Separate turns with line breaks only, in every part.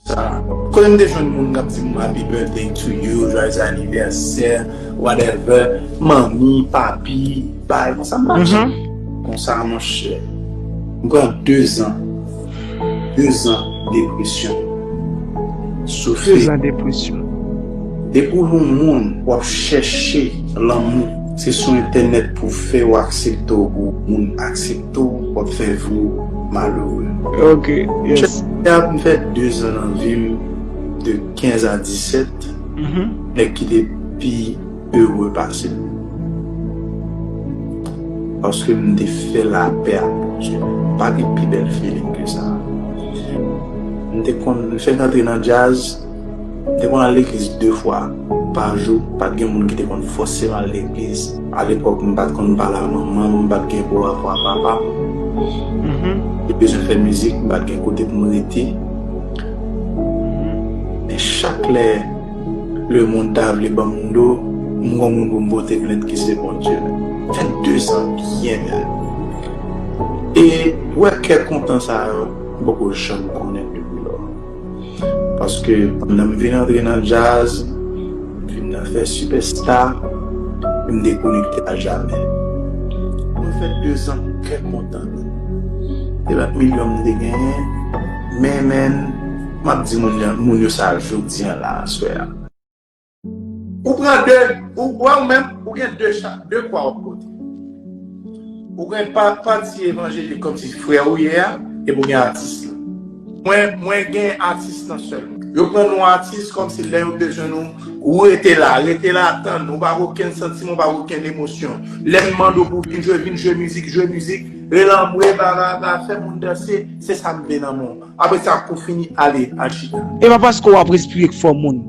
Sa Kote m te jwenn moun kap di m happy birthday to you, joyeux anniversaire, whatever, manmi, papi, bay konsa m pa janm konsa monchè. M pran 2 zan, 2 zan depresyon. Soufri. 2 zan depresyon.
Depi
w yon moun w ap chèche lanmou, se sou entènèt pou w fè yo aksepte w pou moun aksepte w. tou wap fè vi w malere. Ok
yes. Chèf Mwen ap fè 2
zan nan vi m de 15 a 17 nèg ki te pi ere pase m. Paske m te fè lapè ak Bondye. Pa gen pi bèl feeling ke sa. M te konn m fèk antre nan djaz. M te konn al legliz de fwa pa jou, pa t gen moun ki te konn fòse m al legliz. Alepòk m pa t konn pale ak manman m, m pa t gen bon rapò ak papa m. M te bezwen fè mizik, m pa t gen kote pou m rete. Men chak lè lemonn ta vle ban m do, m gon moun pou m pote plent ki se Bondye. 22 zan byen bèl. E wè kè kontan sa yo m poko janm konnen l depi lò. Paske pandan m vin antre nan djaz, m vin nan fè sipèsta e m dekonekte a jamè. Mwen fè dezan trè kontan. E lòt milyon m te genyen, men men, m ap di moun yo sa jodi an la aswè a. Ou pran 2, ou wè ou menm, ou gen 2 chak, 2 kwa wap pote. Ou gen pati evanjelik kòm si frè ou ye a, epi ou gen atis la. Mwen, mwen gen atis nan sèl. Yo pran nou atis kòm si lè yo bezwen nou, ou rete la, rete la tann, ou pa gen okenn santiman, ou pa gen okenn emosyon. Lè m mande w pou vin jwe, vin jwe mizik, jwe mizik, relanmwe, bla bla bla, fè moun danse, se sa m vle nan moun. Apre sa pou fini ale al chita. E pa paske w ap
respire k fò moun.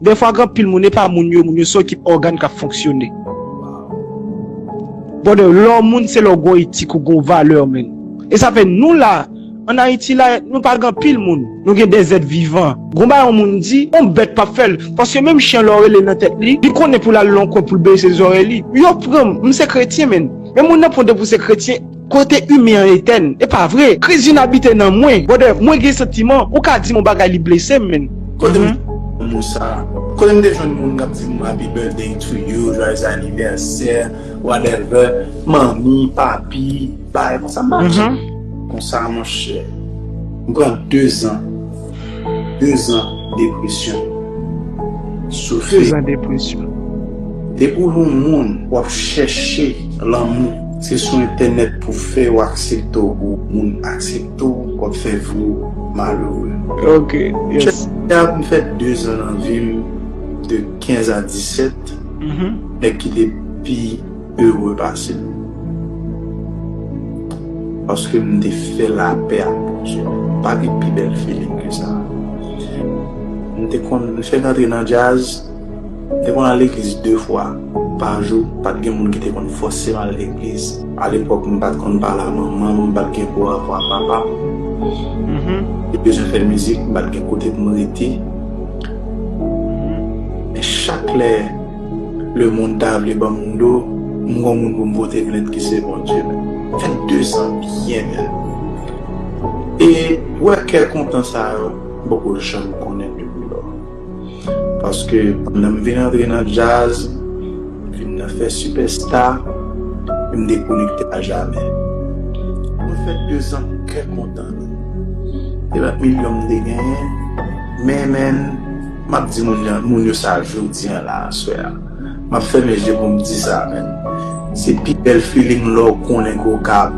Dèfwa gen anpil moun e pa moun yo moun yo se ekip ògàn k ap fonksyone. Brother lè w moun se lè w gon etik ou gon valè menn. E sa fè nou la an Ayiti la nou pa gen anpil moun. Nou gen de zèt vivan. Gon bagay yon moun di yon bèt p ap fè l. Paske menm chen lè w rele l nan tèt li, li konnen pou l al nan yon kwen pou l bese zòrèy li. Yo pran m m se kretyen menn. Men moun nan pran w depi w se kretyen. Kote humain an Ethène? Epa vre! Kriz vin abite nan mwen. Brother, mwen gen santiman, ou ka dim yon bagay li blesem menn. Kotem jwenn
non moun sa. Kotem te jwenn moun kap dim happy birthday to you, joyeux anniversaire, whatever, manmi, papi, bagay konsa m pa janm konsa monchè. M pran 2 ans. 2 zan depresyon soufri. 2 zan depresyon.
Depi
w yon moun w ap chèche lanmou se sou entènèt pou w fè yo aksepte w pou moun aksepte w w ap fè vi w malere. Ok
yes. Chèche a m fè 2
zan nan vi m de 15 a 17 nèg ki te pi. Heureux pase m. Paske m te fè lapè ak Bondye. Pa gen pi bèl feeling ke sa. M te konn, m fèk antre nan djaz, m te konn al legliz 2 fwa pa jou, pa t gen moun ki te konn fòse m al legliz. A lepòk m pa t konn pale a manman m, m pa t gen gwo rapò a papa m. M te bezwen fè mizik, m pa t gen kote pou m rete. Men chak lè. Le moun ta vle banm do m gon moun pou m pote plent ki se Bondye menm. 22 zan byen bèl moun e ou wè kè kontan sa yo m poko janm konnen depi lò paske pandan m vin antre nan djaz m vin nan fè sipèsta e m dekonekte a jamè mwen fè 2 zan kè kontan e lòt milyon m te genyen men menn. Map di moun yan moun yo sa jodi an la aswè a map fèmen je poum di sa menn se pi bèl feeling lèw konnen ke w ka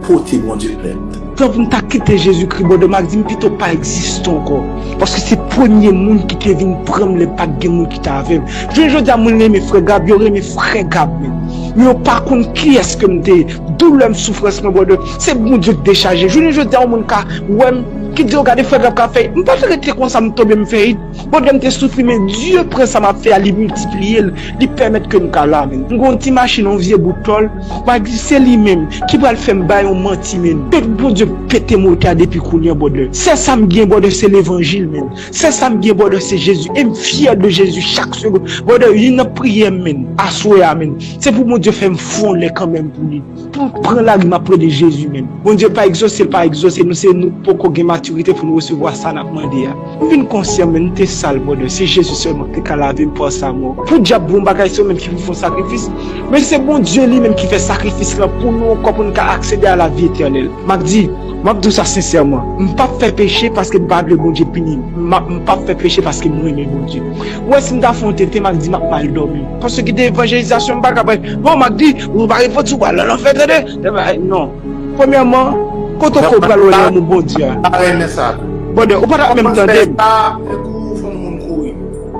pote Bondye plent. Tan pou m ta kite
Jezikri bòdò m ak di m pito pa egziste ankò paske se premye moun ki te vin pran m lè m pat gen moun ki te avè m jounen jodi a moun renmen frè Gab yo renmen frè Gab menm men yo pa konn kiyès ke m te ye doulè m soufrans mwen bòdò se Bondye k dechaje jounen jodi a yon moun ka wè m Ki diw gade fè grap kap fè it m pa fè rete konsa m tonbe m fè it bondye m te soufri men Dieu pran sa map fè a li miltipliyel li pèmèt kem ka la menn m gen yon ti machin yon vye bout tòl ma di se li menm ki pral fèm bay yon manti menn et k bondye pete motè a depi kounya brother sè sam gen brother se levanjil menn sè sam gen brother se Jésus em fyè de Jésus chak segond brother yn nan priyèm menn aswè a menn se pou bondye fèm fon lè kanmenm pou li. Pou m pran lari map rele Jezi menm. Bondye pa egzose l pa egzose nou se nou k poko gen matirite pou nou resevwa sa nap mande a. M vin konsyan menm m te sal brother se Jezi sèlman k te ka lave m par sa mò. Podyab bon bagay se yo menm ki pou fon sakrifis men se Bondye li menm ki fè sakrifis lan pou nou ankò pou n ka aksede a lavi etènèl. Map di, map di w sa sensèman, m pap fè peche paske m pa vle Bondye pini m, m ap m pap fè peche paske m renmen Bondye. Ou wè si m ta fon tete map di map mal dòmi. Paske gen de evanjelizasyon m pa ka bay. Non map di Nou pa repot sou pral nan lanfè tande. Nan pa non. Premyèman, kote w kwè w pral wè lanmou Bondye a? Mwen pa renmen sa tou. Bòdè, ou pa t ap menm tande m. Kòmanse pa fè kou ou fè moun
kouri.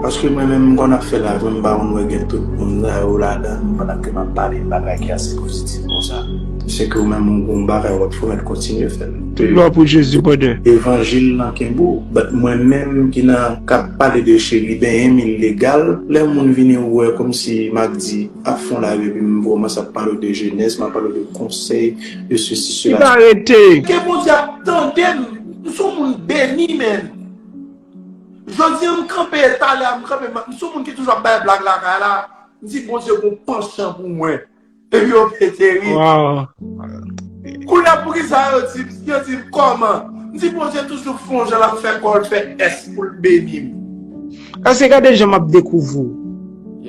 Paske mwen menm m konn ap fè lavi m pa konn wè gen tout moun sa yo ladan l pandan ke m ap pale yon bagay ki ase pozitif konsa. Se ke ou menm ou gen yon bagay w ap fè ou mèt kontinye fè l. Tout glwa pou Jezi
bòdè. Evanjil lan kenbe
w. But mwen menm ki nan k ap pale de cheri benyen m ilegal lè moun vini wè kòmsi m ap di. ap fon la ui m vrman sa pale w de jenès ma pale w de konsèy de sesi sela. Li pa rete. Ke
Bondye ap
tandem m son moun beni menn Jodi an m kanpe e talè a m kanpe m son moun ki toujou ap bay blag lakay la m di Bondye gon panshan pou mwen epi yo pete ri kounye a poukisa yo di m yo di m kòman m di Bondye toujou fon jan lap fè kòl fè ès poul beni m. Ase
gade jan map dekouvri w.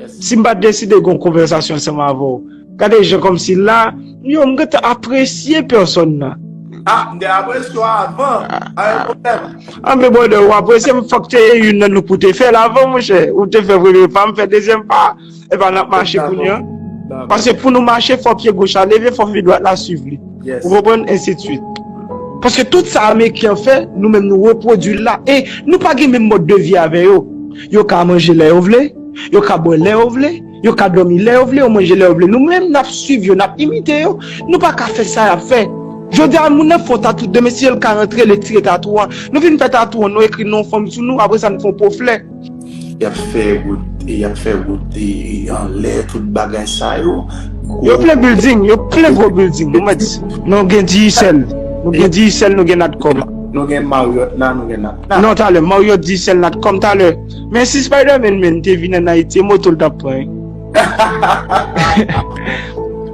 Sim pat deside gon konvèsasyon ansanm avèw gade jan kòmsi la m yo m gentan apresye pèsòn nan. Ah m te
apresye w avan pa gen pwoblèm. Anben brother ou
apresye m fòk te gen youn nan nou pou te fèl avan monchè ou te fè premye pa m fè dezyèm pa epa nap mache kounya paske pou nou mache fò pye goch la leve fò pye dwat la swiv li ou konprann ensitsuit. Paske tout sa ameriken an fè nou menm nou repwodwil la e nou pa gen menm mòd de vi avè yo. Yo ka manje lè yo vle, yo ka bwè lè yo vle, yo ka dòmi lè yo vle, yo manje lè yo vle. Nou menm n ap suiv yo, n ap imite yo, nou pa ka fè sa y ap fè. Jodi a, moun nan fè yon tatou, demen si yo l ka rantre, l etire tatou an. Nou fin fè tatou an, nou ekri non fanm sou nou, apre sa nou fè yon po flè. Y ap
fè wout, y ap fè wout anlè, tout bagay sa yo. Yo plen bilding,
yo plen gwo bilding. Nou mèt, nou gen Digicel, nou gen Digicel, nou gen Natcom. Nou gen Marriott
la, nou gen. Nan talè Mario di
sèl natcom talè men si spiderman menn te vin an ayiti e motol tap pran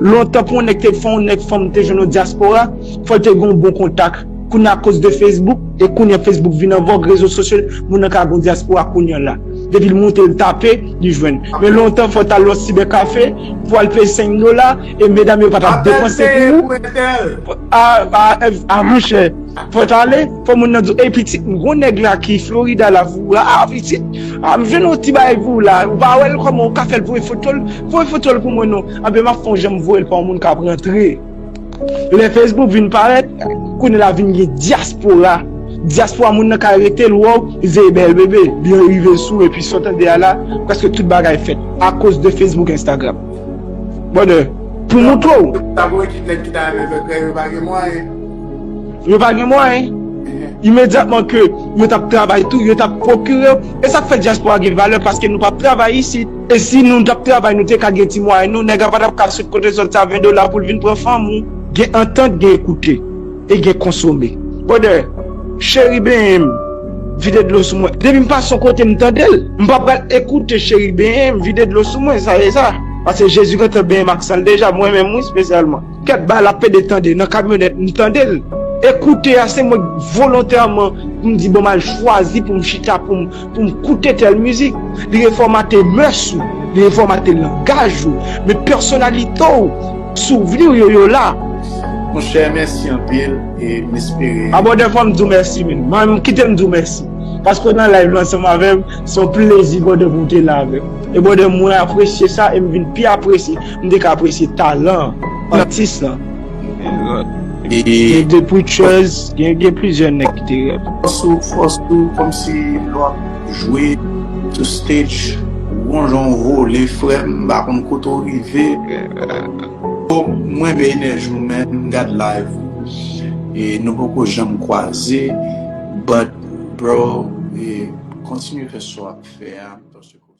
lontan pou yon nèg te fè yon nèg fanm te jwenn yon diaspora fòl te gen yon bon kontak kounye a koz de facebook e kounye facebook vin an vòg rezo sosyo moun nan ka gen yon diaspora kounye la depil moute li tape li jwenn men lontan fòl tal yon cyber café pou al peye 5 dola e medam yo patap depanse pou ou a monchè fòl tale. Fò moun nan di w, ey pitit m gwo nèg la ki Florida la pou ou, ah pitit, ah m jwenn yon ti bagay pou ou la, ou pa wè l kòman ou ka fè l voye foto l, voye foto l pou mwen non, anben m ap fè yon jan m voye l pa yon moun k ap rantre. Lè Facebook vin parèt, kounye la vin gen dyaspora, dyaspora moun nan ka rete l wè w, li se bèl bebe, li rive sou epi sa w tande a la, prèske tout bagay fèt akoz de Facebook, Instagram. Brother, pou m montre w. Sa vre kit nèg ki ta renmen fè krèy yo pa gen mwayen. Yo pa gen mwayen. Imedyatman ke yo t ap travay tou, yo t ap pwokire yo. E sa k fè dyaspora gen valè paske nou pa ap travay isit. E si nou t ap travay nou te ka gen ti mwayen nou, nèg la pa t ap ka sot kote l sot sa 20 dola pou l vin pran fanm ou. Gen antant gen ekoute e gen konsome. Brother, cheri benyen m, vide dlo sou mwen. Depi m pase yon kote m tande l. M pa pral ekoute cheri benyen m, vide dlo sou mwen, sa e sa. Pase Jezi gentan benyen m ak san l deja, mwen menm wi spesyalman. Kèt ba la pede tande nan kamyonèt m tande l e koute a se mwen k volontèman m di bon m al chwazi pou m chita pou m pou m koute tèl mizik li refòmate mès ou li refòmate langaj ou men pèsonalite w souvni w yo yo la. Monchè
mèsi anpil e m espere. Abo de fwa m di w
mèsi men m kite m di w mèsi paske w nan live lan ansanm avè m se yon plezi brother pou w te la avè m e brother mwen apresye sa e m vin pi apresye M te ka apresye talan atis lan. Gen The Preachers, gen plizyè nèg ki te rèd. Fòs ou
kòmsi lè w ap jwe sou stage ou gon jan w vole frè m, m pa konn kote w rive. M renmen enèji w men m gad live ou e nou poko janm kwaze but bro kontinye fè sa w ap fè a.